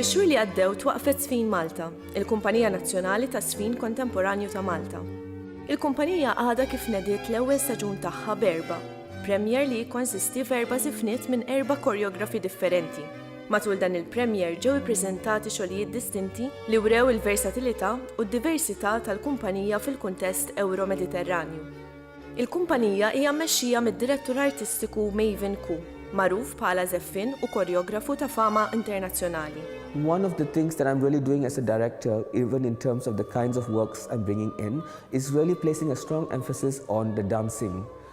Fix-xhur li għaddew twaqfet Sfin Malta, il-kumpanija nazzjonali ta' sfin kontemporanju ta' Malta. Il-kumpanija għadha kif nediet l-ewwel staġun tagħha b'erba' premier li jikkonsisti f'erba' żifniet minn erba' korjografi differenti. Matul dan il-premiere ġew ippreżentati xogħlijiet distinti li wrew il-versatilità u d-diversità tal-kumpanija fil-kuntest Ewro-Mediterranju. Il-kumpanija hija mmexxija mid-direttur artistiku Mavin Koo, magħruf bħala żeffien u korjografu ta' fama internazzjonali. One of the things that I'm really doing as a director even in terms of the kinds of works I'm bringing in is really placing a strong emphasis on the dancing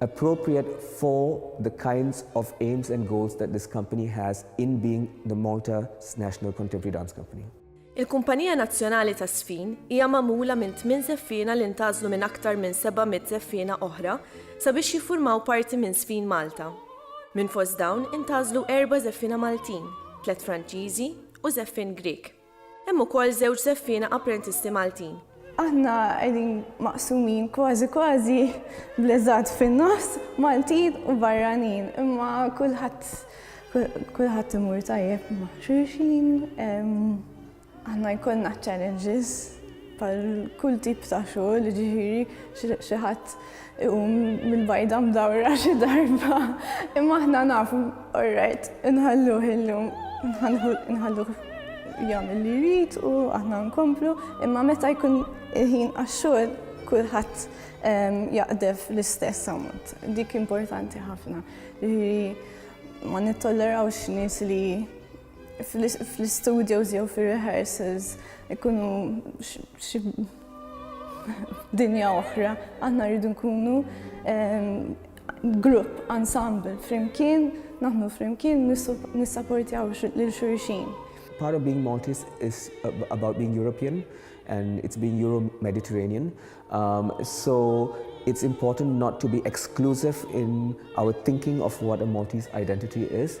appropriate for the kinds of aims and goals that this company has in being the Malta National Contemporary Dance Company. Il-Kumpanija Nazzjonali taż-Żfin hija magħmula minn tmien żeffiena li ntgħażlu minn aktar minn 700 żeffiena oħra sabiex jiffurmaw parti minn Żfin Malta. Minn fost dawn intgħażlu erba' żeffiena Maltin, tliet Franċiżi u żeffien Grieg. Hemm ukoll żewġ żeffiena apprentisti Maltin. Aħna qegħdin maqsumin kważi kważi bl-eżatt fin-nofs, Maltin u barranin, imma kulħadd kulħadd imur tajjeb ma' xulxin. Aħna jkollna challenges Bħal kull tip ta' xogħol, jiġifieri xi ħadd iqum mill-bajda mdawra xi darba. Imma aħna nafu, all right, inħalluh illum, inħalluh jagħmel li jrid u aħna nkomplu, imma meta jkun il-ħin għax-xogħol kulħadd ehm, jaqdef l-istess ammont. Dik importanti ħafna. Ma nittollerawx nies li fl-istudios jew fir-rehearsals ikunu xi dinja oħra, aħna rridu nkunu ehm, grupp, ensemble, flimkien, naħnu flimkien, nissaportjaw lil xulxin. Part of being Maltese is about being European and it's being Euro-Mediterranean. Um, so it's important not to be exclusive in our thinking of what a Maltese identity is.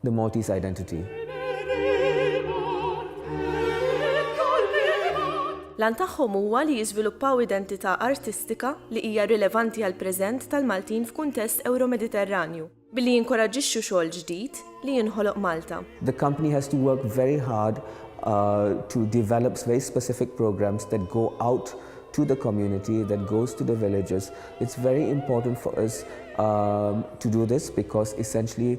The Maltese Identity. L-għan tagħhom huwa li jiżviluppaw identità artistika li hija rilevanti għall-preżent tal-Maltin f'kuntest Ewro-Mediterranju, billi jinkoraġġixxu xogħol ġdid li jinħoloq Malta. The company has to work very hard to develop very specific programs that go out to the community, that goes to the villages. It's very important for us to do this because essentially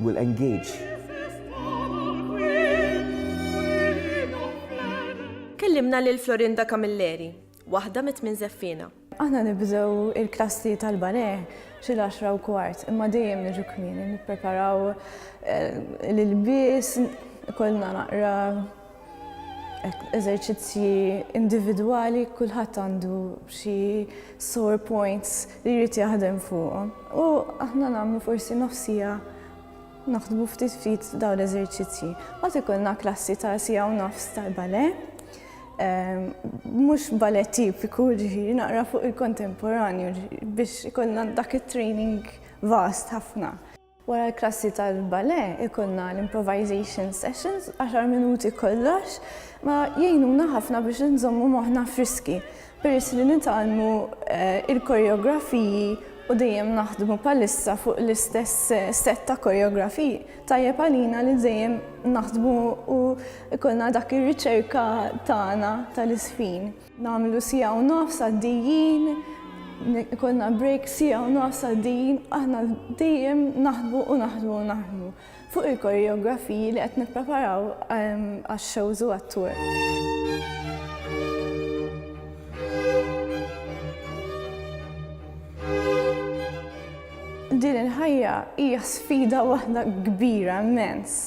will engage. Kellimna lil Florinda Camilleri, waħda mit-tmien żeffiena. Aħna nibdew il-klassi tal-ballet xi l-għaxra u kwart, imma dejjem niġu kmieni nippreparaw eh, l-ilbies, ikollna naqra eżerċizzji individwali kulħadd għandu xi sore points li jrid jaħdem fuqhom. U aħna nagħmlu forsi nofsija naħdmu ftit ftit dawn l-eżerċizzji. Għad ikollna klassi ta' sija u nofs tal-bale, ehm, mhux bale tipiku ġifieri naqra fuq il-kontemporanju biex ikollna dak it-training vast ħafna. Wara l-klassi tal-balè ikollna l-improvisation sessions, għaxar minuti kollox, ma jgħinuna ħafna biex inżommu moħħna friski peress li nitgħallmu eh, il-koreografiji u dejjem naħdmu palissa fuq l-istess eh, set ta' koreografiji. Tajjeb għalina li dejjem naħdmu u ikollna dak ir-riċerka tagħna tal-isfin. Nagħmlu siegħa u nofs għaddijin, konna break siegħa u nofs għaddijin, aħna dejjem naħdmu u naħdmu u naħdmu fuq il-koreografiji li qed nippreparaw ehm, għax-shows u għat-tour. din il-ħajja hija sfida waħda kbira immens.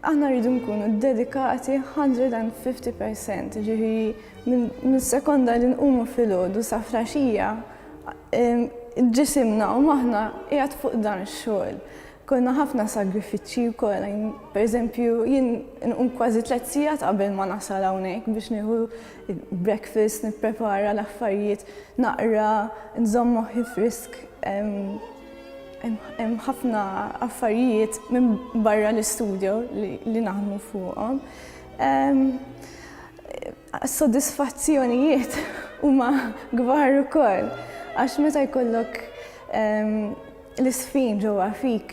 Aħna rridu nkunu ddedikati 150 per cent, ġifieri minn sekonda li nqumu filgħodu sa flaxija ġisimna u maħna qiegħed fuq dan ix-xogħol. Konna ħafna sagrifiċċji wkoll, pereżempju jien nqum kważi tliet sigħat qabel ma nasal hawnhekk biex nieħu breakfast, nipprepara l-affarijiet, naqra, nżomm moħħi frisk. Hemm ħafna affarijiet minn barra l-istudio li naħdmu fuqhom. Sodisfazzjonijiet huma kbar ukoll għax meta jkollok l-isfin ġewwa fik